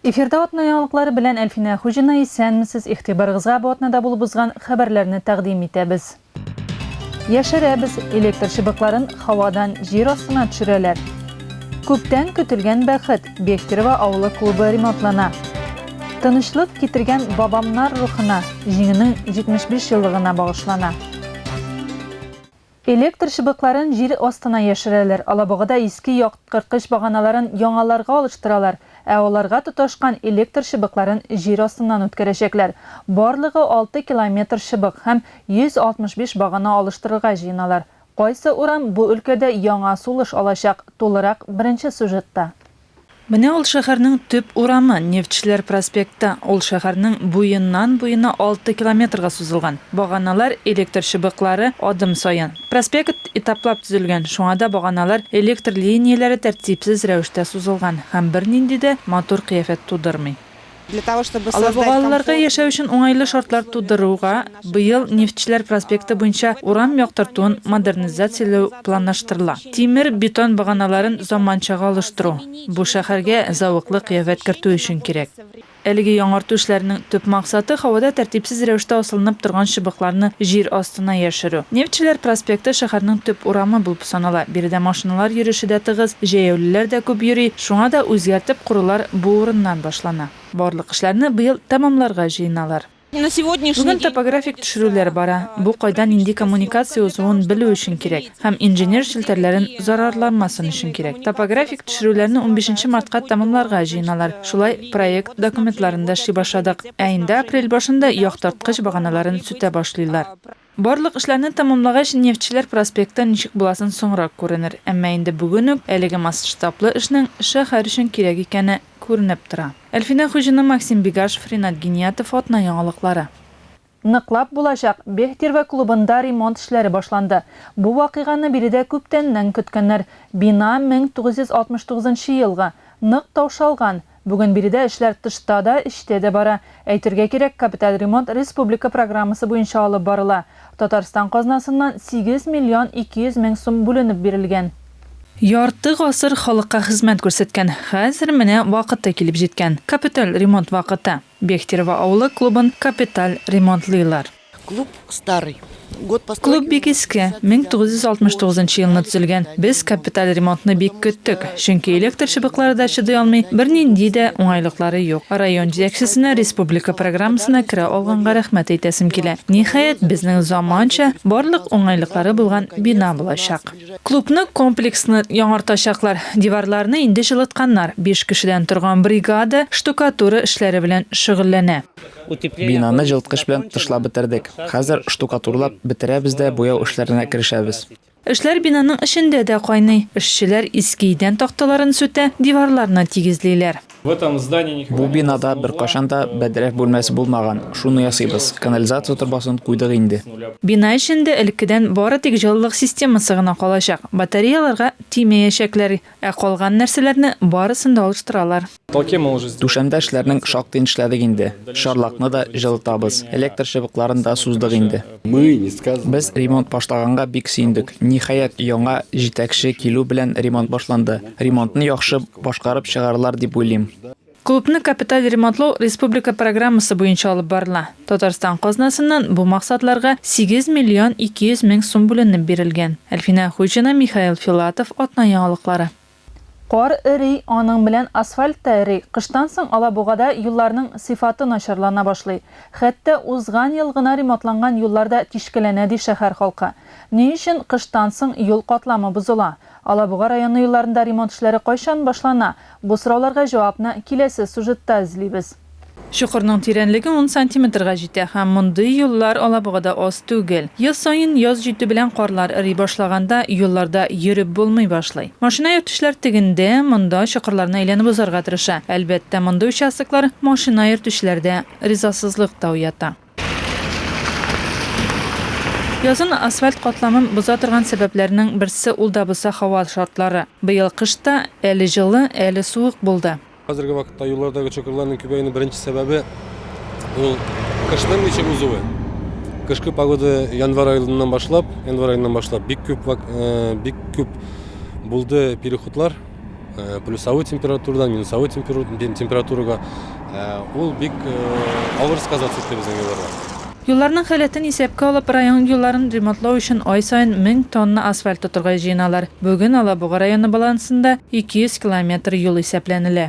Эфирда атна яңалыклары белән Әлфинә Хуҗина, исәнмесез! Игътибарыгызга бу атнада булып узган хәбәрләрне тәкъдим итәбез. Яшерәбез, электр чыбыкларын һавадан җир астына төшерәләр. Күптән көтелгән бәхет, Бехтерево авылы клубы ремонтлана. Тынычлык китергән бабамнар рухына, Җиңүнең 75 еллыгына багышлана. Электр чыбыкларын җир астына яшерәләр, алабугада иске якткырткыч баганаларын яңаларга алыштыралар, ә аларга тоташкан электр чыбыкларын җир астыннан үткәрәчәкләр. Барлыгы алты километр чыбык һәм 165 багана алыштырырга җыеналар. Кайсы урам бу өлкәдә яңа сулыш алачак, тулырак беренче сюжетта. Менә ул шәһәрнең төп урамы, Нефтьчеләр проспекты. Ул шәһәрнең буеннан-буена алты километрга сузылган. Баганалар, электр чыбыклары, адым саен. Проспект этаплап төзелгән, шуңа да баганалар, электр линияләре тәртипсез рәвештә сузылган һәм бернинди дә матур кыяфәт тудырмый. Алар бу балаларга яшәү өчен уңайлы шартлар тудыруга быел Нефтьчеләр проспекты буенча урам яктыртуын модернизацияләү планлаштырыла. Тимер, бетон баганаларын заманчага алыштыру, бу шәһәргә зәвыклы кыяфәт кертү өчен кирәк. Әлеге яңарту эшләренең төп максаты, һавада тәртипсез рәвештә асылынып торган чыбыкларны җир астына яшерү. Нефтьчеләр проспекты шәһәрнең төп урамы булып тора. Санала. Биредә машиналар йөреше дә тыгыз, җәяүлеләр дә күп йөри, шуңа да үзгәртеп корулар бу урыннан башлана. Барлык эшләрне быел тәмамларга җыеналар. Бүген топографик төшерүләр бара, бу кайда нинди коммуникация узуын белү өчен кирәк һәм инженер челтәрләрен зарарланмасын өчен кирәк. Топографик төшерүләрне унбишенче мартка тәмамларга җыеналар, шулай проект документларын да эшли башладык, ә инде апрель башында яктырткыч баганаларын сүтә башлыйлар. Барлык эшләрне тәмамлагач, Нефтьчеләр проспекты ничек буласын соңрак күренер. Әмма инде бүген үк әлеге масштаблы эшнең шәһәр өчен кирәк икәне күренеп тора. Әлфинә Хуҗина, Максим Бегашев, Ринат Гиниятов, Атна яңалыклары. Ныклап булачак, Бехтерево клубында ремонт эшләре башланды. Бу вакыйганы биредә күптәннән көткәннәр. Бина 1969 елгы, нык таушалган, Бүген биредә эшләр тышта да, эчтә дә бара. Әйтергә кирәк, капиталь ремонт республика программасы буенча алып барыла. Татарстан казнасыннан 8 миллион 200 мең сум бүленеп бирелгән. Ярты гасыр халыкка хезмәт күрсәткән, хәзер менә вакыты килеп җиткән, капиталь ремонт вакыты. Бехтерево авылы клубын капиталь ремонтлыйлар. Клуб старый. Год постройки. Клуб бик иске, 1969 елны төзелгән. Без капиталь ремонтны бик көттек, чөнки электр чыбыклары да чыдый алмый, бернинди дә уңайлыклары юк. Район җитәкчесенә республика программасына керә алганга рәхмәт әйтәсем килә. Ниһаять, безнең заманча, барлык уңайлыклары булган бина булачак. Клубны комплекслы яңартачаклар. Диварларны инде җылытканнар. Биш кешедән торган бригада штукатура эшләре белән шөгыльләнә. Бинаны җылыткыч белән тышлап бетердек. Хәзер штукатурлап бетерәбез дә буяу эшләренә керешәбез. Эшләр бинаның эчендә дә кайный. Эшчеләр иске идән такталарын сүтә, диварларны тигезлиләр. Бу бинада беркайчан да бәдрәф бүлмәсе булмаган, шуны ясыйбыз. Канализация торбасын куйдык инде. Бина эчендә элеккедән бары тик җылылык системасы гына калачак, батареяларга тимәячәкләр. Ә калган нәрсәләрне барысын да алыштыралар. Түшәмдә эшләрнең шактыен эшләдек инде. Чарлакны да җылытабыз, электр чыбыкларын да суздык инде. Без ремонт башлаганга бик сөендек. Ниһаять, яңа җитәкче килү белән ремонт башланды. Ремонтны яхшы башкарып чыгарлар дип уйлыйм. Клубны капиталь ремонтлау республика программасы буенча алып барыла. Татарстан казнасыннан бу максатларга 8 миллион 200 мең сум бүленеп бирелгән. Әлфинә Хуҗина, Михаил Филатов, Атна яңалыклары. Кар эри, аның белән асфальт та эри, кыштан соң Алабугада юлларның сыйфаты начарлана башлый. Хәтта узган ел гына ремонтланган юллар да тишкәләнә, ди шәһәр халкы. Ни өчен кыштан соң юл катламы бозыла? Алабуга районы юлларында ремонт эшләре кайчан башлана? Бу сорауларга җавапны киләсе сюжетта эзлибез. Чокырның тирәнлеге ун сантиметрга җитә һәм мондый юллар Алабугада аз түгел. Ел саен яз җитү белән карлар эри башлаганда юлларда йөреп булмый башлый. Машина йөртүчеләр тегендә, монда чокырларны әйләнеп узарга тырыша. Әлбәттә, мондый участоклар машина йөртүчеләрдә ризасызлык та уята. Язын асфальт катламын боза торган сәбәпләрнең берсе ул да булса һава шартлары. Быел кыш та әле җылы, әле суык булды. Хәзерге вакытта юллардагы чокырларның күбәюенең беренче сәбәбе ул кышның ничек узуы. Кышкы погода январь аеннан башлап, январь аеннан башлап бик күп бик күп булды переходлар. Э, плюсовой температурадан минусовой температурага э, ул бик э, авыр сказаться исте безнең юлларга Юлларның халәтен исәпкә алып, район юлларын ремонтлау өчен ай саен 1000 тонна асфальт тотырга җыеналар. Бүген Алабуга районы балансында 200 километр юл исәпләнелә.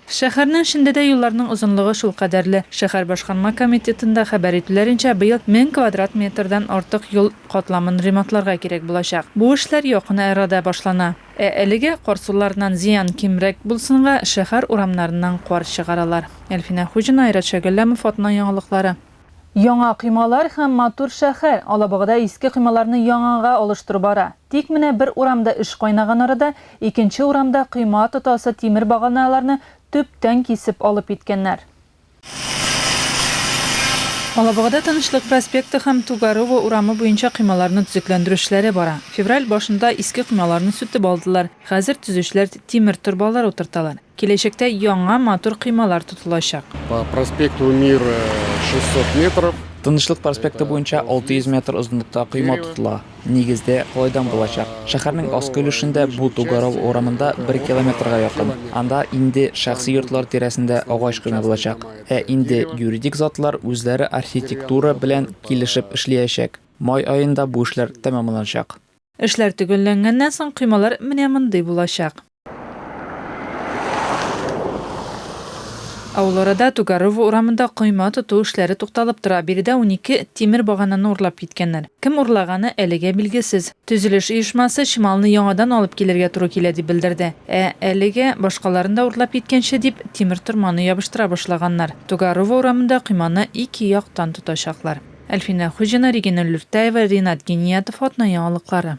Шәһәрнең эчендә дә юлларның озынлыгы шулкадәрле. Шәһәр башкарма комитетында хәбәр итүләренчә, быел мең квадрат метрдан артык юл катламын ремонтларга кирәк булачак. Бу эшләр якын арада башлана. Ә әлегә кар суларыннан зыян кимрәк булсынга, шәһәр урамнарыннан кар чыгаралар. Әлфинә Хуҗина, Айрат Шәгәлләмов, Атна яңалыклары. Яңа коймалар һәм матур шәһәр, Алабугада иске коймаларны яңага алыштыру бара. Тик менә бер урамда эш кайнаган арада, икенче урамда койма тотасы тимер баганаларны төптән кисеп алып киткәннәр. Алабугада Тынычлык проспекты һәм Тугарово урамы буенча коймаларны төзекләндерү эшләре бара. Февраль башында иске коймаларны сүтеп алдылар, хәзер төзүчеләр тимер торбалар утырталар. Киләчәктә яңа матур коймалар тотылачак. По проспекту Мира 600 метров. Тынычлык проспекты буенча 600 метр озынлыкта койма тотыла. Нигездә, калайдан булачак. Шәһәрнең аскы өлешендә бу Тугарал урамында бер километрга якын. Анда инде шәхси йортлар тирәсендә агач койма булачак. Ә инде юридик затлар үзләре архитектура белән килешеп эшлиячәк. Май аенда бу эшләр тәмамланачак. Эшләр төгәлләнгәннән соң коймалар менә мондый булачак. Ә ул арада Тугарово урамында койма тоту эшләре тукталып тора. Биредә унике тимер багананы урлап киткәннәр. Кем урлаганы әлегә билгесез. Төзелеш оешмасы чималны яңадан алып килергә туры килә дип белдерде. Ә әлегә, башкаларын да урлап киткәнче дип, тимер торманы ябыштыра башлаганнар. Тугарово урамында койманы ике яктан тотачаклар. Әлфинә Хуҗина, Регина Люртаева, Ринат Гениятов атна яңалыклары.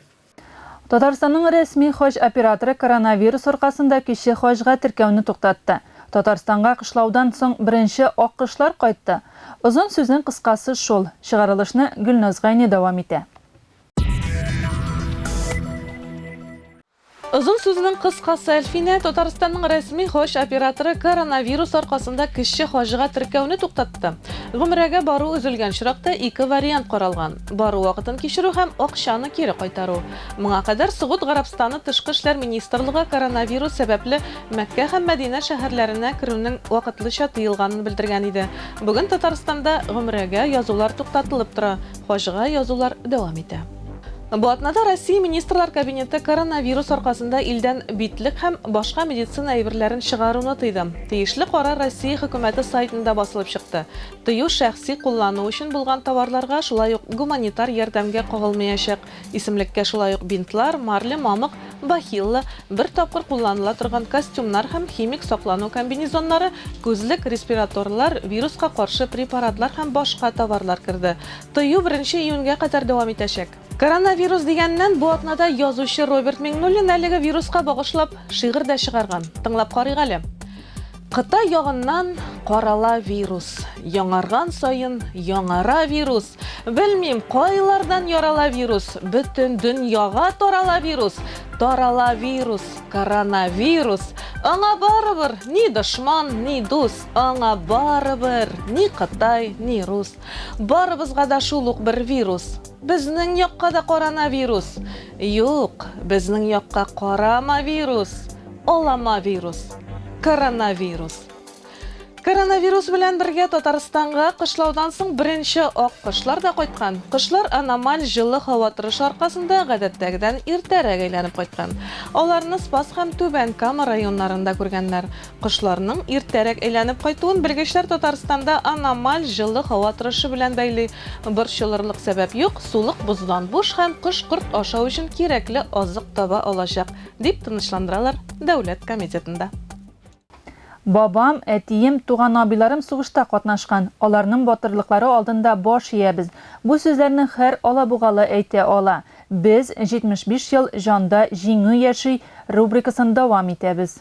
Татарстанның рәсми хаҗ операторы коронавирус аркасында кече хаҗга теркәүне туктатты. Татарстанга кышлаудан соң беренче аккошлар кайтты. Озын сүзнең кыскасы шул. Чыгарылышны Гөлназ Гайни дәвам итә. Озын сүзнең кыскасы, Әлфинә, Татарстанның рәсми хаҗ операторы коронавирус аркасында кече хаҗга теркәүне туктатты. Гомрәгә бару өзелгән очракта ике вариант каралган. Бару вакытын кичерү һәм акчаны кире кайтару. Моңа кадәр Согуд Гарәбстаны Тышкы эшләр министрлыгы коронавирус сәбәпле Мәккә һәм Мәдинә шәһәрләренә керүнең вакытлыча тыелганын белдергән иде. Бүген Татарстанда гомрәгә язулар туктатылып тора, хаҗга язулар дәвам итә. Бу атнада Россия Министрлар Кабинеты коронавирус аркасында илдән битлек һәм башка медицина әйберләрен чыгаруны тыйды. Тиешле карар Россия Хөкүмәте сайтында басылып чыкты. Тыю шәхси куллану өчен булган товарларга, шулай ук гуманитар ярдәмгә кагылмаячак. Исемлеккә шулай ук бинтлар, марля, мамык, бахилла, бер тапкыр кулланыла торган костюмнар һәм химик саклану комбинезоннары, күзлек, респираторлар, вируска каршы препаратлар һәм башка товарлар керде. Тыю беренче июньгә кадәр дәвам итәчәк. Коронавирус дигәннән, бу атнада язучы Роберт Миңнуллин әлеге вируска багышлап шигырь дә чыгарган. Тыңлап карыйк әле. Кытай ягыннан карала вирус. Яңарган саен яңара вирус. Белмим, кайлардан ярала вирус. Бөтен дөньяга тарала вирус. Тарала вирус, коронавирус. Аңа барыбер ни дошман, ни дус. Аңа барыбер ни Кытай, ни рус. Барыбызга да шул ук бер вирус. Безнең якка да коронавирус! Юк, безнең якка карамавирус, аламавирус, коронавирус. Коронавирус белән бергә Татарстанга кышлаудан соң беренче ак кошлар да кайткан. Кошлар аномаль җылы һава торышы аркасында гадәттәгедән иртәрәк әйләнеп кайткан. Аларны Спас һәм Түбән Кама районнарында күргәннәр. Кошларның иртәрәк әйләнеп кайтуын белгечләр Татарстанда аномаль җылы һава торышы белән бәйли. Борчылырлык сәбәп юк, сулык боздан буш һәм кош корт ашау өчен кирәкле азык таба алачак, дип тынычландыралар Дәүләт комитетында. Бабам, әтием, туган абыйларым сугышта катнашкан, аларның батырлыклары алдында баш иябез. Бу сүзләрне хәр алабугалы әйтә ала. Без, 75 ел, җанда Җиңү яши! рубрикасын дәвам итәбез.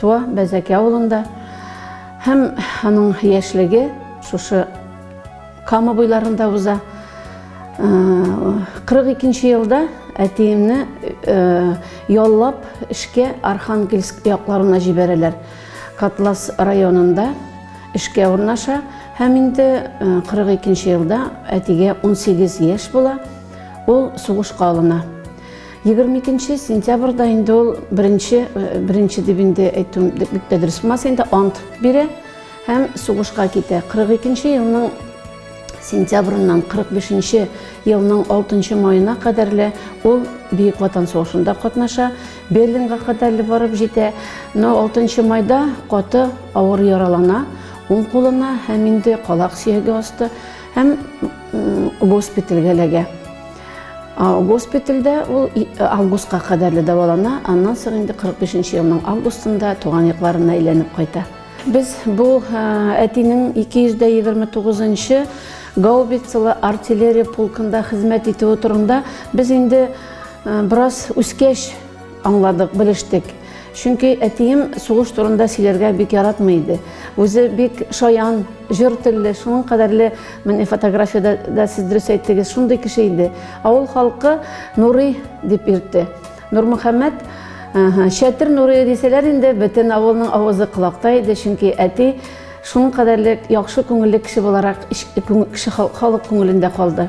Туа Бәзәки авылында һәм аның яшьлеге шушы Кама буйларында уза. 42 елда әтиемне яллап эшкә Архангельск якларына җибәрәләр. Котлас районында эшкә урнаша һәм инде 42 елда әтигә 18 яшь була, ул сугышка алына. Егерме икенче сентябрьда инде ул беренче, э, беренче дип инде әйтүем бик тә дөрес булмас инде, ант бирә һәм сугышка китә. 42 елның сентябрьннән 45 елның 6 маена кадәрле ул Бөек Ватан сугышында катнаша, Берлинга кадәрле барып җитә. Но 6 майда каты авыр яралана, уң кулына һәм инде калак сөяге асты һәм госпитальгә эләгә. Госпитальдә ул августка кадәрле дәвалана, аннан соң инде 45 нче елның августында туган якларына әйләнеп кайта. Без бу әтинең 229 нчы гаубицалы артиллерия полкында хезмәт итүе турында без инде бераз үскәч Аңладык, белештек. Чөнки әтием сугыш турында сөйләргә бик яратмый иде. Үзе бик шаян, җор телле, шуның кадәрле, менә фотографиядә дә сез дөрес әйттегез, шундый кеше иде. Авыл халкы Нурый дип йөртте. Нурмөхәммәт Чәтер Нурый дисәләр инде, бөтен авылның авызы колакта иде, чөнки әти шуның кадәрле яхшы күңелле кеше буларак кеше халык күңелендә калды.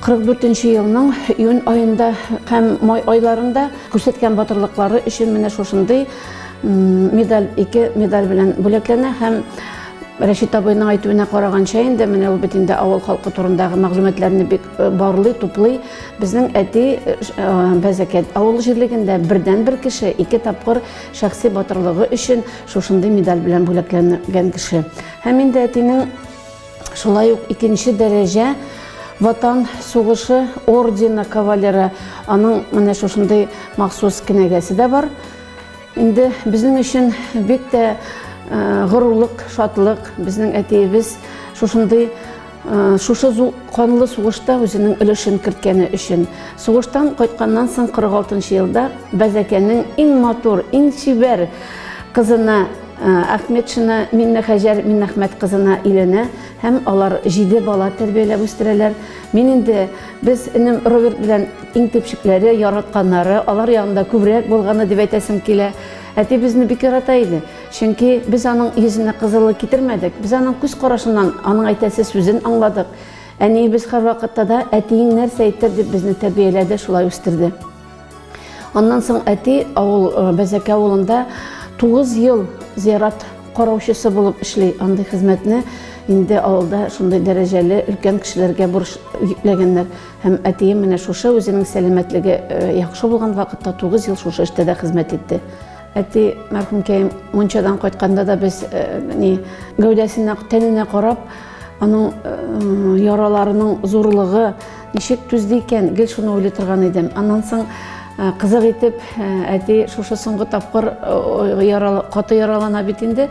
44 нче елның июнь аенда һәм май айларында күрсәткән батырлыклары өчен менә шушындый медаль, ике медаль белән бүләкләнә һәм Рәшит абыйның әйтүенә караганча инде менә ул бит инде авыл халкы турындагы мәгълүматларны бик э, барлый, туплый. Безнең әти э, э, Бәзәкәт авыл җирлегендә бердән бер кеше ике тапкыр шәхси батырлыгы өчен шушындый медаль белән бүләкләнгән кеше. Һәм инде әтинең Шулай ук икенче дәрәҗә Ватан сугышы ордены кавалеры, аның менә шушындый махсус кенәгәсе дә бар. Инде безнең өчен бик тә э, горурлык, шатлык. Безнең әтиебез шушындый э, шушы канлы сугышта үзенең өлешен керткәне өчен. Сугыштан кайтканнан соң 46 елда Бәзәкәнең иң матур, иң чибәр кызына Әхметшина Миннехәҗәр Миннәхмәт кызына өйләнә һәм алар җиде бала тәрбияләп үстерәләр. Мин инде без энем Роберт белән иң төпчекләре, яратканнары, алар янында күбрәк булганы дип әйтәсем килә. Әти безне бик ярата иде, чөнки без аның йөзенә кызыллык китермәдек, без аның күз карашыннан аның әйтәсе сүзен аңладык. Әниебез һәрвакытта да, әтиең нәрсә әйтер, дип безне тәрбияләде, шулай үстерде. Аннан соң әти авыл Бәзәкә авылында 9 ел зиярат караучысы булып эшли. Андый хезмәтне инде авылда шундый дәрәҗәле өлкән кешеләргә бурыч йөкләгәннәр. Һәм әтием менә шушы үзенең сәламәтлеге яхшы булган вакытта 9 ел шушы эштә дә хезмәт итте. Әти мәрхүмкәем мунчадан кайтканда да без ни гәүдәсенә, тәненә карап, аның яраларының зурлыгы ничек түзде икән, гел шуны уйлый торган идем. Аннан соң кызык итеп әти шушы соңгы тапкыр ярала, каты яралана бит инде.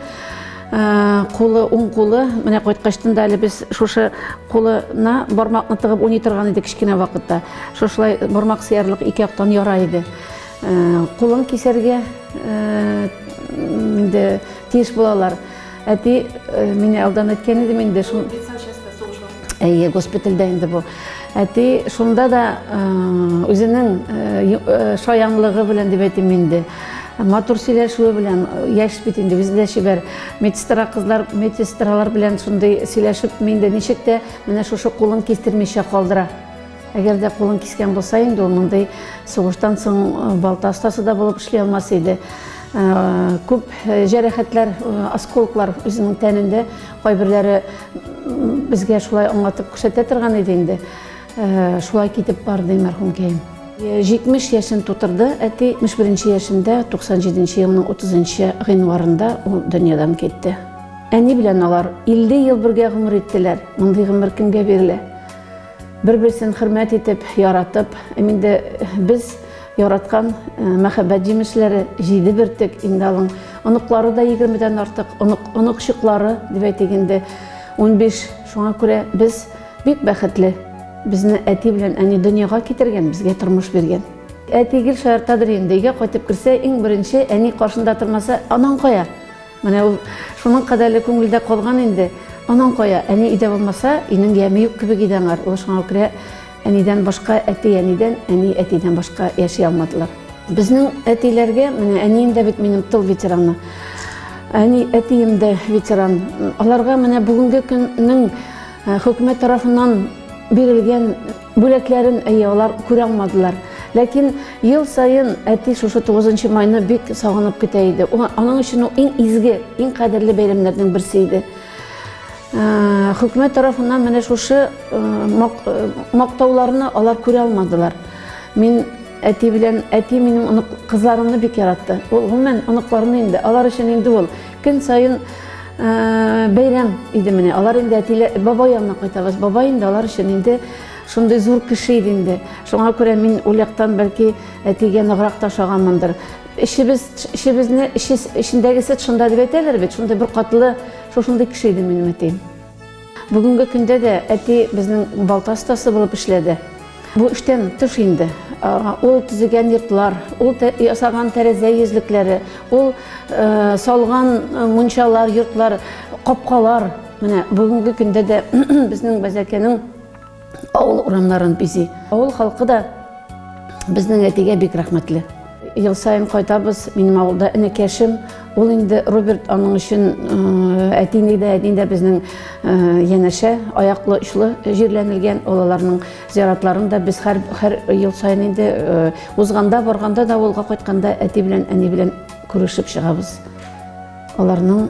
Кулы, уң кулы, менә кайткачтын да әле без шушы кулына бармакны тыгып уйный торган идек кечкенә вакытта. Шушылай бармак сыярлык ике яктан яра иде. Кулын кисәргә инде тиеш булалар. Әти мине алдан әйткән иде инде шул. Әйе, госпитальдә инде бу. Әти шунда да үзенең шаянлыгы белән дип әйтим инде. Матур сөйләшүе белән яшь бит инде, үзе дә чибәр. Медсестра кызлар, медсестралар белән шундый сөйләшеп инде ничек тә менә шушы кулын кистермичә калдыра. Әгәр дә кулын кискән булса инде, ул мондый сугыштан соң э, балта остасы да булып эшли алмас иде. Э, күп э, җәрәхәтләр, осколклар үзенең тәнендә, кайберләре безгә шулай аңлатып күрсәтә торган иде инде. Шулай китеп барды мәрхүмкәем. 70 яшен тутырды әти, 71 яшендә 97 елның 30 гыйнварында ул дөньядан китте. Әни белән алар 50 ел бергә гомер иттеләр. Мондый гомер кемгә бирелә? Бер-берсен хөрмәт итеп, яратып, һәм инде без яраткан мәхәббәт җимешләре җиде бөртек инде алың. Оныклары да егермедән артык, онык, оныкчыклары, дип әйтик инде, унбиш. Шуңа күрә без бик бәхетле. Безне әти белән әни дөньяга китергән, безгә тормыш биргән. Әти гел шаяртадыр инде, өйгә кайтып керсә, иң беренче әни каршында тормаса, анаң кая? Менә ул шуның кадәрле күңелдә калган инде. Анаң кая? Әни өйдә булмаса, өйнең яме юк кебек иде аңар. Ул шуңа күрә әнидән башка әти-әнидән, әни-әтидән башка яши алмадылар. Безнең әтиләргә, менә әнием дә бит минем тыл ветераны, әни-әтием дә ветеран, аларга менә бүгенге көннең, Ә, хөкүмәт тарафыннан бирелгән бүләкләрен әйе алар күрә алмадылар ләкин ел саен әти шушы 9 майны бик сагынып көтә иде аның өчен ул иң изге иң кадерле бәйрәмнәрнең берсе иде ә, хөкүмәт тарафыннан менә шушы ә, мактауларны алар күрә алмадылар мин әти белән әти минем онык кызларымны бик яратты ул гомумән оныкларны инде алар өчен инде ул Көн саен бәйрәм иде менә. Алар инде әтиле бабай янына кайтабыз. Бабай инде алар өчен инде шундый зур кеше иде инде. Шуңа күрә мин ул яктан бәлки әтигә ныграк ташаганмындыр. Эшебез, эшебезне, эшендәгесе шунда дип әйтәләр бит, шундый бер катлы, шушындый кеше иде минем әтием. Бүгенге көндә дә әти безнең балта остасы булып эшләде. Бу эштән тыш инде. Ул төзегән йортлар, ул ясаган тәрәзә йөзлекләре, ул салган мунчалар, йортлар, капкалар, менә бүгенге көндә дә безнең Бәзәкәнең авыл урамнарын бизи. Авыл халкы да безнең әтигә бик рәхмәтле. Ел саен кайтабыз, минем авылда энекәшем, ул инде Роберт аның өчен әтине дә, әтине дә безнең янәшә, аяклы очлы җирләнелгән, ул аларның зиратларын да без һәр, һәр ел саен инде узганда, барганда да, авылга кайтканда әти белән, әни белән күрешеп чыгабыз. Аларның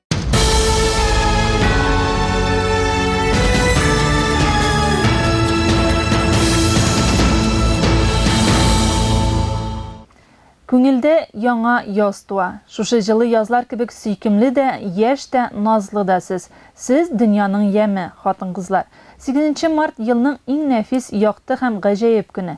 Күңелдә яңа яз туа. Шушы җылы язлар кебек сөйкемле дә, яшь тә, назлы да сез. Сез, дөньяның яме, хатын-кызлар. Сигезенче март, елның иң нәфис, якты һәм гаҗәеп көне.